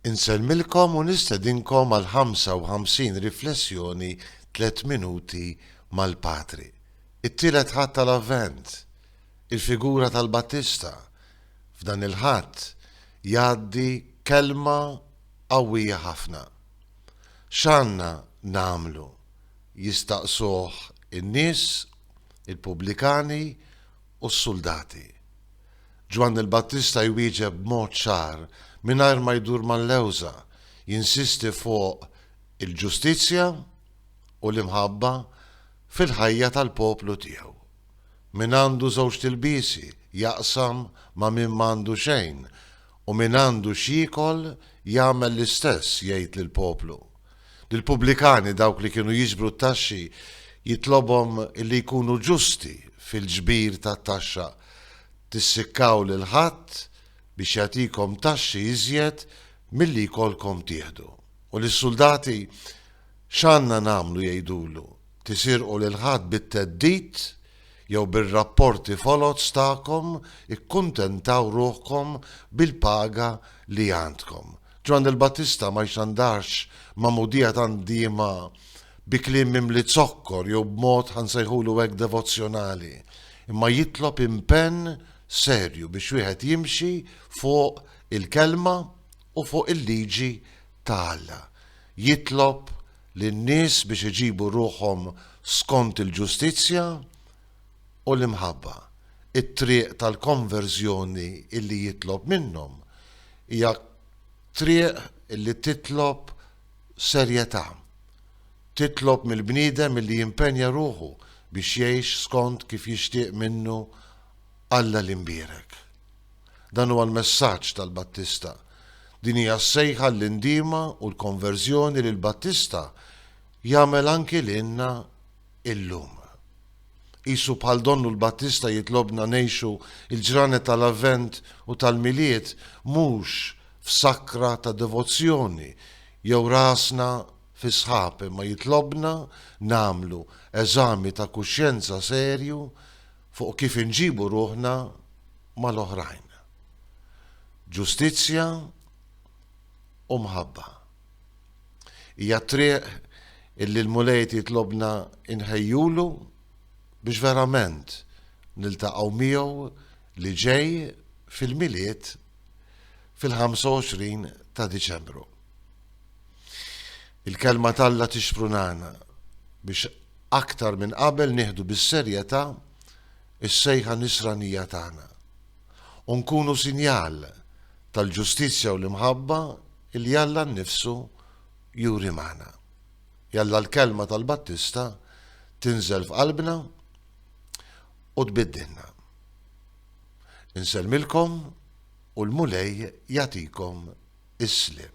Insellmilkom u nistedinkom għal 55 riflessjoni tliet minuti mal-Patri. It-Tielet Ħadd tal-Avvent, il-figura tal-Battista, f'dan il-Ħadd jgħaddi kelma qawwija ħafna. X'għandna nagħmlu? jistaqsuh in-nies, il-pubblikani u s-suldati. Ġwanni l-Battista jwieġeb b'mod ċar, mingħajr ma jdur mal-lewża, jinsisti fuq il-ġustizzja u l-imħabba fil-ħajja tal-poplu tiegħu. Min għandu żewġt ilbiesi jaqsam ma' min m'għandu xejn u min għandu x'jiekol jagħmel l-istess, jgħid lill-poplu. Lill-pubblikani, dawk li kienu jiġbru t-taxxi, jitlobhom illi jkunu ġusti fil-ġbir tat-taxxa, tissikkaw lil ħadd biex jagħtikom taxxi iżjed milli jkollkom tieħdu. U lis-suldati, x'għandna nagħmlu jgħidulu, tisirqu lil ħadd bit-theddid jew bir-rapporti foloz tagħkom ikkuntentaw ruħkom bil-paga li għandkom. Ġwanni l-Battista ma jxandarx magħmudija tant diema bi kliem mimli zokkor jew b'mod, ħa nsejħulu hekk, devozzjonali, imma jitlob impenn serju biex wieħed jimxi fuq il-Kelma u fuq il-liġi ta' Alla. Jitlob lin-nies biex iġibu ruħhom skont il-ġustizzja, u l-imħabba. It-triq tal-konverżjoni li jitlob minnhom hija triq li titlob serjetà. Titlob mill-bniedem li jimpenja ruħu biex jgħix skont kif jixtieq minnu Alla l-Imbierek. Dan huwa l-messaġġ tal-Battista. Din hija s-sejħa għall-indiema u l-konverżjoni li l-Battista jagħmel anki lilna illum. Qisu bħal Donnu l-Battista jitlobna ngħixu l-ġranet tal-Avvent u tal-Milied mhux f'sakra ta' devozzjoni jew rasna fis-sħab imma jitlobna nagħmlu eżami ta' kuxjenza serju fuq kif inġibu ruħna mal-oħrajn. Ġustizzja u mħabba. Hija t-triq illi l-Mulej qed jitlobna nħejjulu biex verament niltaqgħu miegħu li ġej fil-Milied fil-25 ta' Diċembru. Il-Kelma t'Alla tixprunana biex aktar minn qabel nieħdu bis-serjetà s-sejħa nisranija tagħna u nkunu sinjal tal-ġustizzja u l-imħabba li Alla nnifsu juri magħna. Jalla l-kelma tal-Battista tinżel f'qalbna u tbiddilna. Insellmilkom u l-Mulej jagħtikom is-sliem.